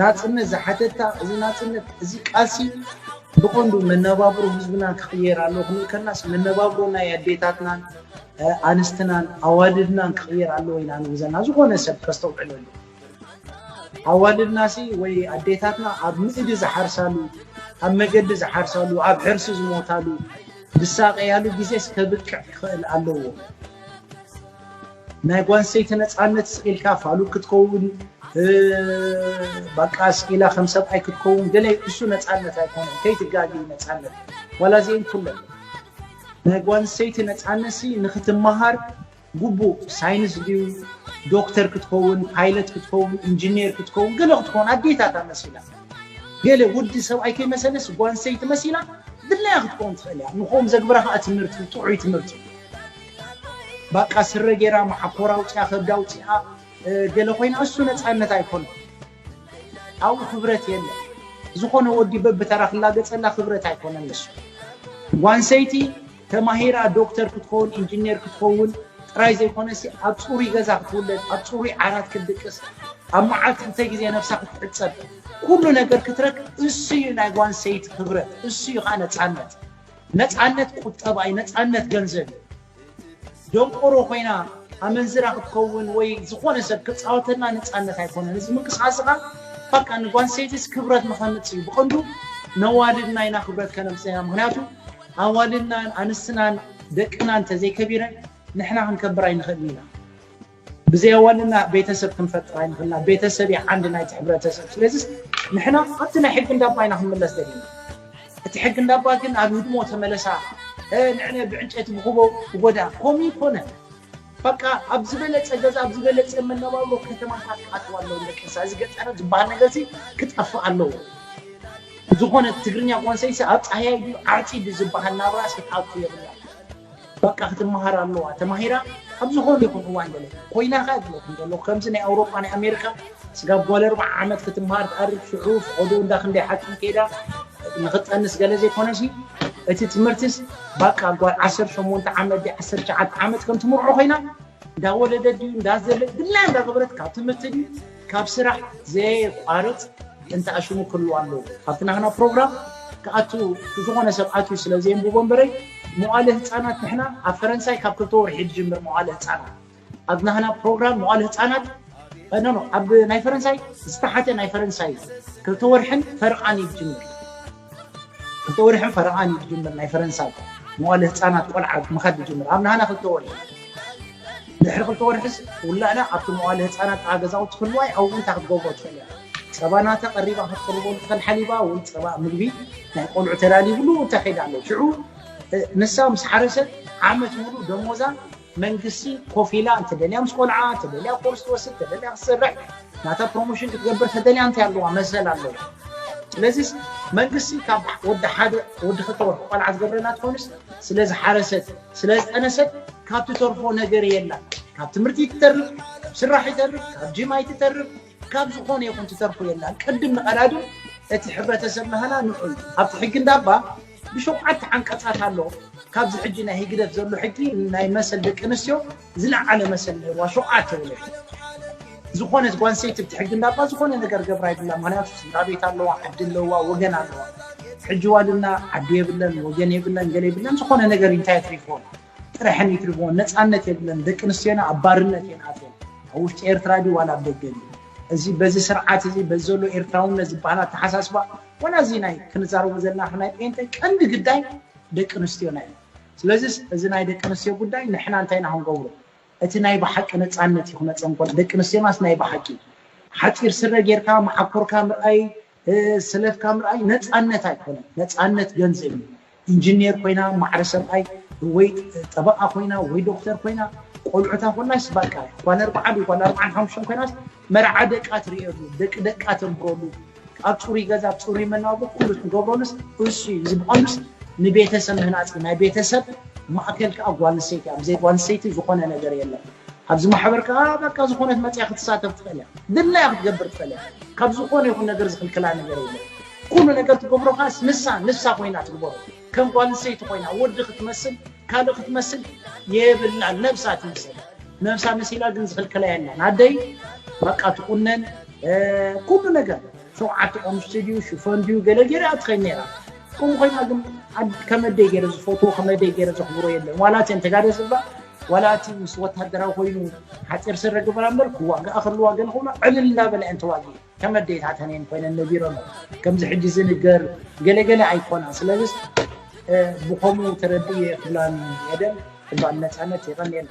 ናጽነት ዝሓተታ እዚ ናጽነት እዚ ቃልሲ ብቐንዱ መነባብሮ ህዝብና ክቕየር ኣለዎ ክንብል ከልናስ መነባብሮ ናይ ኣዴታትናን ኣንስትናን ኣዋልድናን ክቕየር ኣለዎ ኢና ንብል ዘለና ዝኾነ ሰብ ከስተውዕል ኣለዎ ኣዋልድናሲ ወይ ኣዴታትና ኣብ ምእዲ ዝሓርሳሉ ኣብ መገዲ ዝሓርሳሉ ኣብ ሕርሲ ዝሞታሉ ዝሳቀያሉ ግዜስ ከብቅዕ ክኽእል ኣለዎ ናይ ጓንሰይቲ ነፃነት ስቂልካ ፋሉግ ክትከውን ባቃ ስቂላ ከም ሰብኣይ ክትከውን ገለ እሱ ነፃነት ኣይኮነን ከይትጋጊ ነፃነት ዋላ እዚኤን ኩለን ናይ ጓንሰይቲ ነፃነሲ ንክትመሃር ግቡእ ሳይንስ ድዩ ዶክተር ክትከውን ፓይለት ክትከውን ኢንጂኒየር ክትከውን ገለ ክትከውን ኣዴታታ መሲላ ገለ ወዲ ሰብኣይ ከይመሰለስ ጓንሰይቲ መሲላ ድላያ ክትከውን ትኽእል እያ ንክኦም ዘግብራ ከዓ ትምህርቲ ጥዑይ ትምህርቲ እዩ ባቃ ስረ ጌራ መዓኮራ ኣውጺኣ ከብዳ ኣውጺኣ ገለ ኮይና እሱ ነጻነት ኣይኮነን ኣብኡ ክብረት የለን ዝኾነ ወዲ በብተራ ክላገጸላ ክብረት ኣይኮነን ንሱ ጓንሰይቲ ተማሂራ ዶክተር ክትኸውን ኢንጂነር ክትኸውን ጥራይ ዘይኮነሲ ኣብ ጽሩይ ገዛ ክትውለድ ኣብ ጽሩይ ዓራት ክትድቅስ ኣብ መዓልቲ ክልተ ግዜ ነብሳ ክትሕጸብ ኩሉ ነገር ክትረክ እሱ እዩ ናይ ጓንሰይቲ ክብረት እሱ እዩ ከዓ ነፃነት ነፃነት ቁጠባ እዩ ነፃነት ገንዘብ እዩ ደንቆሮ ኮይና ኣመንዝራ ክትኸውን ወይ ዝኾነ ሰብ ክፃወተልና ነፃነት ኣይኮነን እዚ ምንቅስቃስ ኸዓ በቃ ንጓንሰይቲስ ክብረት ንኸምፅ እዩ ብቐንዱ ነዋልድና ኢና ክብረት ከነምፅያ ምክንያቱ ኣዋልድናን ኣንስትናን ደቅና እንተዘይከቢረን ንሕና ክንከብር ኣይንኽእልን ኢና ብዘየወንና ቤተሰብ ክንፈጥር ኣይንኽእልና ቤተሰብ እዩ ዓንዲ ናይቲ ሕብረተሰብ ስለዚስ ንሕና ኣብቲ ናይ ሕጊ እንዳባ ኢና ክንምለስ ደሊና እቲ ሕጊ እንዳባ ግን ኣብ ህድሞ ተመለሳ ንዕነ ብዕንጨይቲ ብኩቦ ጎዳ ኮሚ ይኮነ በቃ ኣብ ዝበለፀ ገዛ ኣብ ዝበለፀ መነባብሮ ከተማታት ክኣትዋ ኣለዎ ደቂ እንስሳ እዚ ገጠር ዝበሃል ነገር እዚ ክጠፍእ ኣለዎ ዝኾነ ትግርኛ ኮንሰይሲ ኣብ ፃህያይ ድዩ ዓርፂ ድዩ ዝበሃል ናብራስ ክትኣቱ የብላ በቃ ክትመሃር ኣለዋ ተማሂራ ኣብ ዝኾነ ይኹን እዋን ገለ ኮይና ከ እብለኩም ዘለኹ ከምዚ ናይ ኣውሮጳ ናይ ኣሜሪካ ስጋብ ጓል ኣርብዓ ዓመት ክትመሃር ትኣርግ ሽዑ ፍቐዶ እንዳ ክንደይ ሓኪም ከይዳ ንክትጠንስ ገለ ዘይኮነሲ እቲ ትምህርትስ በቃ ጓል 18 ዓመት ዲ 19 ዓመት ከም ትምርዖ ኮይና እንዳወለደት ድዩ እንዳዘለ ድላ እንዳገበረት ካብ ትምህርቲ ድዩ ካብ ስራሕ ዘየቋርጽ እንተኣ ሽሙ ክህልዎ ኣለዎ። ካብቲ ናህና ፕሮግራም ክኣቱ ዝኾነ ሰብ ኣትዩ ስለ ዘየንብቦ እምበረይ መዋእለ ህጻናት ንሕና ኣብ ፈረንሳይ ካብ ክልተ ወርሒ ዝጅምር መዋእለ ህጻናት ኣብ ናህና ፕሮግራም መዋእለ ህጻናት ኖ ኖ ኣብ ናይ ፈረንሳይ ዝተሓተ ናይ ፈረንሳይ ክልተ ወርሕን ፈርቓን እዩ ዝጅምር ክልተ ወርሕን ፈረቓን እዩ ዝጅምር ናይ ፈረንሳይ መዋእለ ህጻናት ቆልዓ ምኻድ ዝጅምር ኣብ ናህና ክልተ ወርሒ ድሕሪ ክልተ ወርሕስ ውላዳ ኣብቲ መዋእለ ህጻናት ጥቓ ገዛውቲ ክህልዋይ ኣብኡ እንታይ ክትገብሮ ትኽእል እያ ጸባ ናተ ቀሪባ ክትቅርበሉ ትኽእል ሓሊባ ወይ ጸባ ምግቢ ናይ ቆልዑ ተዳሊብሉ እንታይ ከይዳ ኣሎ ሽዑ ንሳ ምስ ሓረሰት ዓመት ሙሉ ደሞዛ መንግስቲ ኮፍ ኢላ እንተደልያ ምስ ቆልዓ ተደልያ ኮርስ ትወስድ ተደልያ ክትሰርሕ ናታ ፕሮሞሽን ክትገብር ተደልያ እንታይ ኣለዋ መሰል ኣለዋ ስለዚ መንግስቲ ካብ ወዲ ሓደ ወዲ ክልተ ወርሒ ቆልዓ ዝገብረላ ትኾንስ ስለ ዝሓረሰት ስለ ዝጠነሰት ካብ ትተርፎ ነገር የላ ካብ ትምህርቲ ትተርፍ ካብ ስራሕ ይተርፍ ካብ ጅማ ይትተርፍ ካብ ዝኾነ ይኹን ትተርፎ የላ ቅድም ንቀዳድም እቲ ሕብረተሰብ ናህና ንዑ ኣብቲ ሕጊ እንዳባ ብሸውዓተ ዓንቀጻት ኣሎ ካብዚ ሕጂ ናይ ህግደፍ ዘሎ ሕጊ ናይ መሰል ደቂ ኣንስትዮ ዝለዓለ መሰል ነይርዋ ሸውዓተ ወለዲ ዝኾነት ጓንሰይቲ ብቲ ሕጊ እንዳባ ዝኾነ ነገር ገብራ ይብላ ምክንያቱ ስድራ ቤት ኣለዋ ዓዲ ኣለዋ ወገን ኣለዋ ሕጂ ዋልና ዓዲ የብለን ወገን የብለን ገለ የብለን ዝኾነ ነገር እንታይ ትሪፎን ጥረሐን ይትርፎን ነፃነት የብለን ደቂ ኣንስትዮና ኣብ ባርነት እየን ኣትየን ኣብ ውሽጢ ኤርትራ ድዩ ዋላ ኣብ ደገ ድዩ እዚ በዚ ስርዓት እዚ በዚ ዘሎ ኤርትራውነት ዝበሃል ኣተሓሳስባ ዋላ እዚ ናይ ክንዛረቦ ዘለና ከም ናይ ጴንጤ ቀንዲ ግዳይ ደቂ ኣንስትዮና እዩ። ስለዚስ እዚ ናይ ደቂ ኣንስትዮ ጉዳይ ንሕና እንታይ ኢና ክንገብሮ? እቲ ናይ ብሓቂ ነጻነት እዩ ክመጸን ከሎ። ደቂ ኣንስትዮናስ ናይ ብሓቂ ሓጺር ስረ ጌርካ መዓኮርካ ምርኣይ፣ ስለፍካ ምርኣይ ነጻነት ኣይኮነን። ነጻነት ገንዘብ እዩ። ኢንጂኔር ኮይና ማዕረ ሰብኣይ ወይ ጠበቓ ኮይና ወይ ዶክተር ኮይና ቆልዑታ ኮላስ ባቃ ኳል ኣርባዓ ድዩ ኳል ኣርባዓን ሓሙሽተን ኮይናስ መርዓ ደቃ ትርእየሉ ደቂ ደቃ ተንብረሉ ኣብ ፅሩይ ገዛ ኣብ ፅሩይ መናብሮ ኩሉ ትገብረሉስ እሱ እዩ እዚ ብቐንዱስ ንቤተሰብ ምህናፅ ናይ ቤተሰብ ማእከል ከዓ ጓል ኣንስተይቲ እያ ብዘይ ጓል ኣንስተይቲ ዝኾነ ነገር የለን ኣብዚ ማሕበር ከዓ በቃ ዝኾነት መፅያ ክትሳተፍ ትኽእል እያ ድላያ ክትገብር ትኽእል እያ ካብ ዝኾነ ይኹን ነገር ዝኽልክላ ነገር የለን ኩሉ ነገር ትገብሮ ከኣስ ንሳ ንሳ ኮይና ትግበሮ ከም ጓል ኣንስተይቲ ኮይና ወዲ ክትመስል ካልእ ክትመስል የብላን ነብሳ ትምሰል ነብሳ መሲላ ግን ዝኽልከላ የላን ኣደይ በቃ ትቁነን ኩሉ ነገር ሸውዓተ ቆምሽቲ ድዩ ሽፈን ድዩ ገለ ገይራ ትኸይድ ነይራ ከምኡ ኮይና ግን ከመደይ ገይረ ዝፈትዎ ከመደይ ገይረ ዘኽብሮ የለን ዋላ እተን ተጋደ ዝብላ ዋላ እቲ ምስ ወታደራዊ ኮይኑ ሓፂር ስረ ግበራ እምበር ክዋጋኣ ከለዋ ገለ ክብላ ዕልል እንዳበላ እየን ተዋጊ ከም ኣዴታተን እየን ኮይነን ነቢረን ከምዚ ሕጂ ዝንገር ገለገለ ኣይኮናን ስለዚስ ብከምኡ ተረድእየ ክብላ ኤደን ክባል ነፃነት የቀንየልና